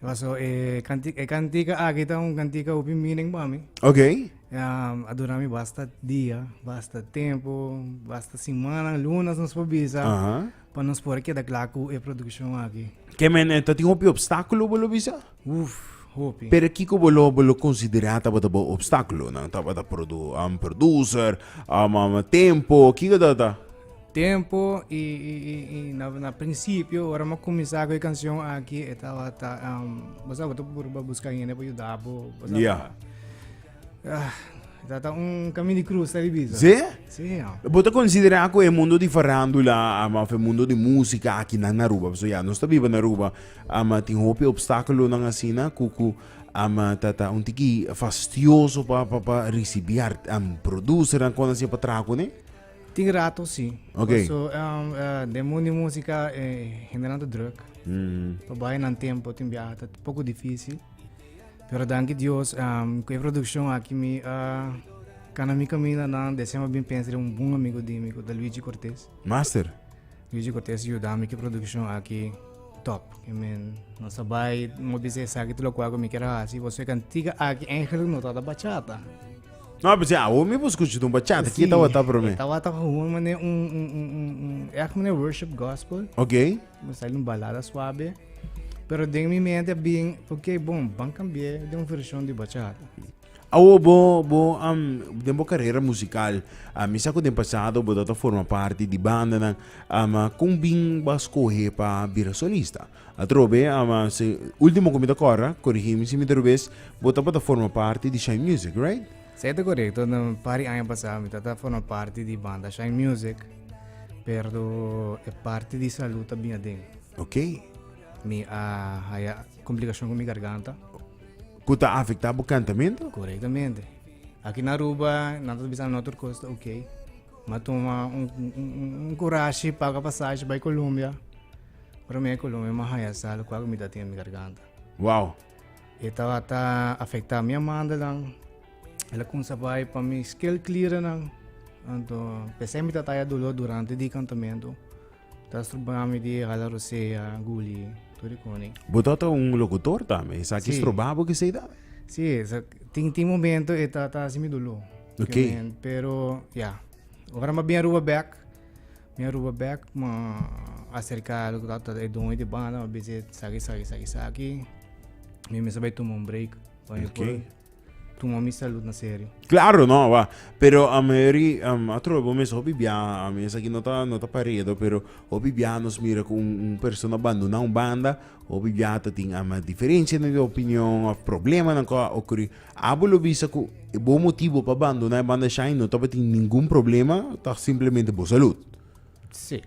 Paso e canti- e cantica aki ta un cantica hopi meaning pa mi. Ok. Um, a dura mi basta dia, basta tempo, basta semana, lunas nos por bisa, Aha. pa nos por queda klaar cu e produccion aki. Ke men eh, ta tin hopi obstáculo bo lo bisa? Uf, hopi. Pero kiko bo lo, bo lo considera tabata bo obstáculo nan? Tabata produ, um, producer, um, um, tempo, kiko tabata? Tempo y na principio ora m'a cuminsa cu e cancion aki e tabata bo sabe bo ta purba busca hende pa yuda bo bo sabe yeah. ah, Tata un camin di cruz ta di bisa. Sí? Sí. Ja. Bo ta considera cu e mundo di farándula ama of e mundo di música aquí nan na Aruba. So ya, nos ta biba na Aruba. Ama tin hopi obstáculo nan asina cu cu ama tata un tiki fastioso pa pa pa recibi art um, producer nan con así pa traha cu ne. Tin rato si. Ok. So, um, uh, de mundo de música eh, generando druk. Mm. Pa bai nan tempo tin biaha ta poco difícil. Pero danki Dios, um, ku e producción aki mi, uh, kana mi camina nan december bin pensa de un bun amigo di mi, ku da Luigi Cortés. Master. Luigi Cortés yuda mi ki producción aki top. I mean, no sa bai, mo bisa esaki tu lo kua ku mi kera hasi, bo so e cantiga aki eigenlijk no ta da bachata. No, pues ja, hoe mi bo escucha doen bachata? Kita wata pro me. Tawata gewoon mane un, un, un, un, un, echt mane worship gospel. Ok. Me sale un balada suave. Pero den mi mente bien, porque bon, van cambiar de un versión de bachata. Awo bo bo um, den bo carrera musical, a mi sa ku den pasado bo data forma parte di banda nan, um, kon bin ba skohe pa bira solista? Atrobe, ama se ultimo ku mi ta kora, korigi mi si mi ta robes, bo tabata forma parti di Shine Music, right? Sa e ta korekto, na un par di aña pasá mi tabata forma parti di banda Shine Music, pero e parti di salu ta bin aden. Ok. Mi a haya komplikashon ku mi garganta. Ku ta afektá bo kantamentu? Korektamente. Aki na Aruba nan ta bisa no tur kos ta ok. Mi a tuma un kurashi, paga pasashi bai Kolombia. Prome cu lo mi mo haya sal cu agu mi datin mi garganta. Wow. E tabata afecta mi amandalan. Ela kunsa bai pa mi skill klierennan. Anto pese mi tataya dolor durante di kantamento. Ta struba mi di hala rosea, guli, turi koni. Botota un locutor tambe. Esa ki sí. struba bo ki sei tambe. Sí, esa, tin, tin momento e tata si mi dolor. Okay. Pero, ja. Yeah. Ora ma bien ruba back. Mi a ruba bek, mi a aserka lo ku tabata e doño di banda, mi a bisa e esaki, esaki, esaki, esaki. Mi mester bai tuma un break pa mi por Oké. tuma mi salut na serio. Claro, no, wak. Pero a mayori, am, a trobe bo mes hopi bia, a mes aki no ta, no ta paredo, pero hopi bia nos mira ku un, un persona banduna un banda, hopi bia tatin, am, diferenshanan di opinion, of problemanan ku a okurí. Abo lo bisa cu e bon motibo pa bandona e banda Shine no tabatin ningun problema, ta simplemente bo salud. Sí.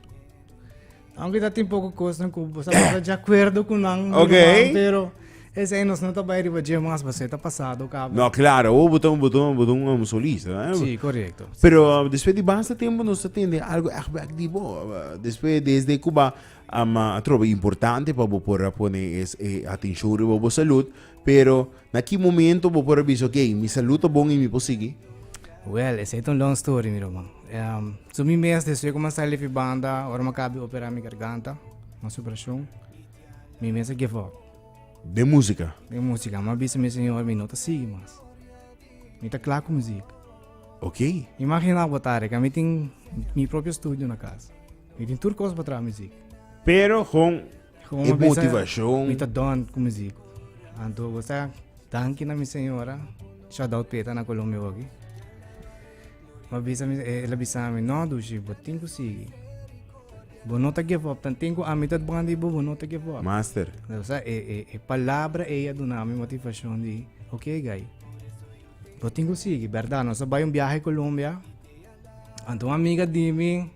Aunque ta tin poco cosnan cu bo sabata de acuerdo cu nan, Ok. Ruman, pero esei nos no ta bay riba dje mas, basey ta pasado cabo. No, claro, oh, boton, boton, boton, um, solista. eh. Sí, correcto. Pero uh, después de basta tiempo nos atende algo echt back di bo. Uh, después desde Cuba, um, uh, trobe importante pa bo por a pone es eh, atención riba bo salud. Pero, na ki momento bo por a bisa, ok, mi salud ta bon y mi por sigui? Well, esey ta un long story, mi ruman. Ehm, so mi mes despues cu mi a sali di fibanda, ora mi a caba di opera mi garganta, mi a haci operacion, mi mes a give up. Den musica? Den musica. Mi a bisa mi señor, mi no ta sigui mas. Mi ta cla cu muziek. Ok. Imagina bo tari, ca mi tin mi propio studio na casa. Mi tin tur cos pa traha muziek. Pero, con e motivacion. Mi ta don cu mi zico. Anto bo sa, danki na mi señora, sha dao peta na Colombia hogi. Ma bisa mi, eh, la bisa mi, no dushi, bo tin cu sigui. Bo no ta give up, tan tin cu ami ta bon di bo, bo no ta give up. Master. O sea, e, e, e palabra ella duna mi motivacion di, ok guy, bo tin cu sigui, verdad, nos a bai un viaje Colombia, anto un amiga di mi,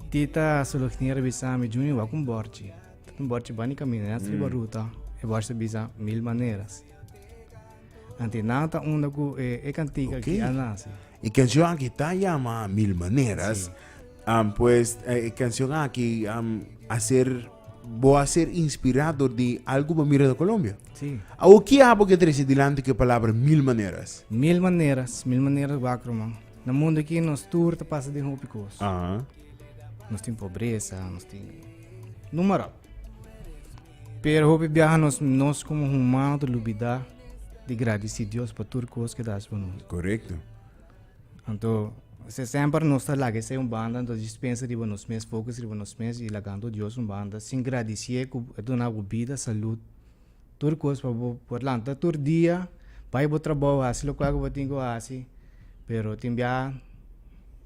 Ti ta solo tin revisa mi juni wa kun borchi. Tin borchi bani kamina na triba ruta. E borchi bisa mil maneras. Anti na ta unda ku e, e kantika ki a nasi. E kansion aki ta yama Mil Maneras. Um, pues e kansion aki um, a ser bo a ser inspirá dor di algu bo mira na Colombia. Si. Awor ki abo ke trese dilanti ku e palabra Mil Maneras? Mil maneras, mil maneras wakro man. Na mundu aki nos tur ta pasa den hopi kos. Aha. Nos tin pobresa, nos tin numerap. Pero hopi biaha nos nos como humano te lubida di gradisi Dios pa tur kos ke das pa nos. Correcto. Anto se semper nos ta laga esei un banda, anto just pensa riba nos mes, focus riba nos mes y lagando Dios un banda sin gradisié ku a duna abu bida, salud, tur cos pa bo por lanta tur dia bay bo trabou haci locual cu bo tin cu haci pero tin bia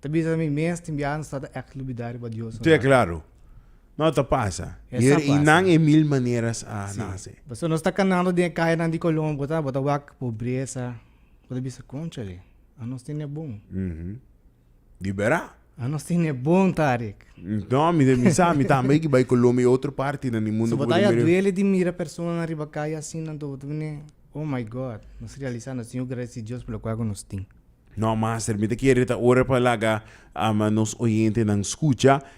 ta bisa mi mes tin bia no sa ta ex lubida riba dios tin e claro no ta pasa y nan e mil maneras a nace pasobra nos ta canando den e cayanan di colon bo ta wak pobreza bo ta bisa conchale anos tin e bon. di bera. Ah nos tin e bon Tarik. No mi ta mi sa mi tambe ki bai Colombia y otro parti nan di mundo cu bo ta mira. So bo ta ya duele di mira personanan riba calle asina anto bo ta bini oh my God nos realisa nos tin yu agradeci Dios por locual cu nos tin. No master mi ta kere ta ora pa laga nos oyente nan scucha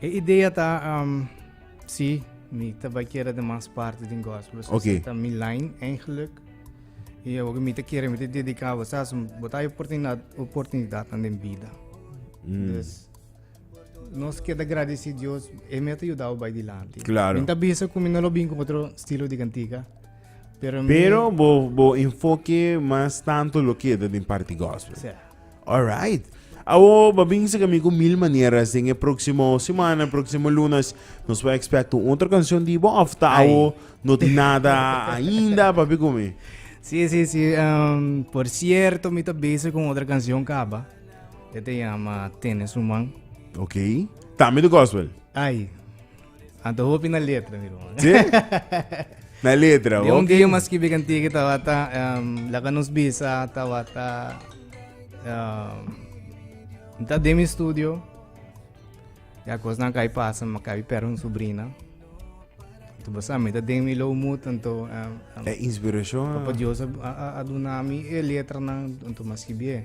E idea ta um, si, mi ta bai kere de mas parte den gospel. So okay. ta mi line eigenlijk. E o mi ta kere mi te dedica bo sa, bota oportunidad oportunidad na den vida. Mm. Dus nos queda agradecer Dios, e me te ayudado bai dilante. Claro. Mi ta bisa ku mi no lo bin ku otro estilo de cantiga. Pero, pero mi... bo, bo enfoque más tanto lo que de parte gospel. Sí. Alright. Awor bo bin sa kami ku mil maneras den e próksimo semana, próksimo lunes, nos por expect un otro canción di bo of ta Ai. awor no tin nada ainda, papi kumi? Sí, sí, sí. ehm, por cierto, mi ta bezig con otra canción caba. E te llama Tienes un man. Ok. También de gospel. Ay, Anto hopi na letra, mi hermano. Sí? na letra, De un día más que bigan tige tabata, um, la nos bisa tabata, um, ta de mi estudio, ya cos na kai pasa, ma kai per un sobrina. Tu basa mi ta de mi lo mut, anto, um, um, e inspiración. Papa Dios a, a, a, a dunami e letra na, anto más que bigan.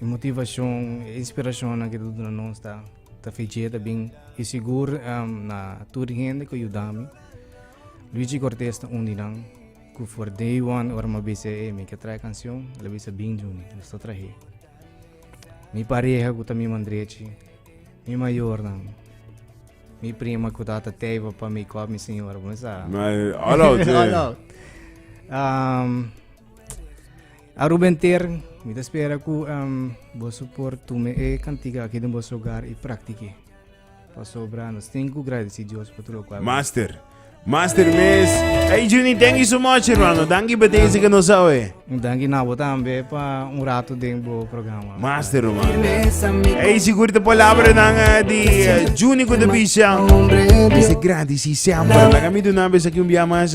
E motivashon, e inspirashonnan ku ta duna nos ta feché ta bin. I sigur na tur e hende ku yuda mi. Luigi Cortes ta un di nan ku for day one ora mi a bisa e mi ke traha e kanshon, el a bisa bin Juni, nos ta trah'é. Mi pareha ku ta mi man drechi, mi mayornan, mi prima ku ta teiba pa mi kòp, mi señora, bo no sa. All out. A Ruben Ter, mi ta spera ku boso por tuma e kantika aki den boso hogar i praktik'é, pasobra nos tin ku gradisí Dios pa tur lokual. Master. Master mes. Hey Junie, thank you so much, hermano. Danki pa tezi ka nos awe. Un danki na bo tambe pa un rato den bo programa. Master, hermano. Hey, sigur te palabra nan eh, di eh, Junie ku te bisha. Dice gradisí semper. Laga mi duna bes aki un bia mas.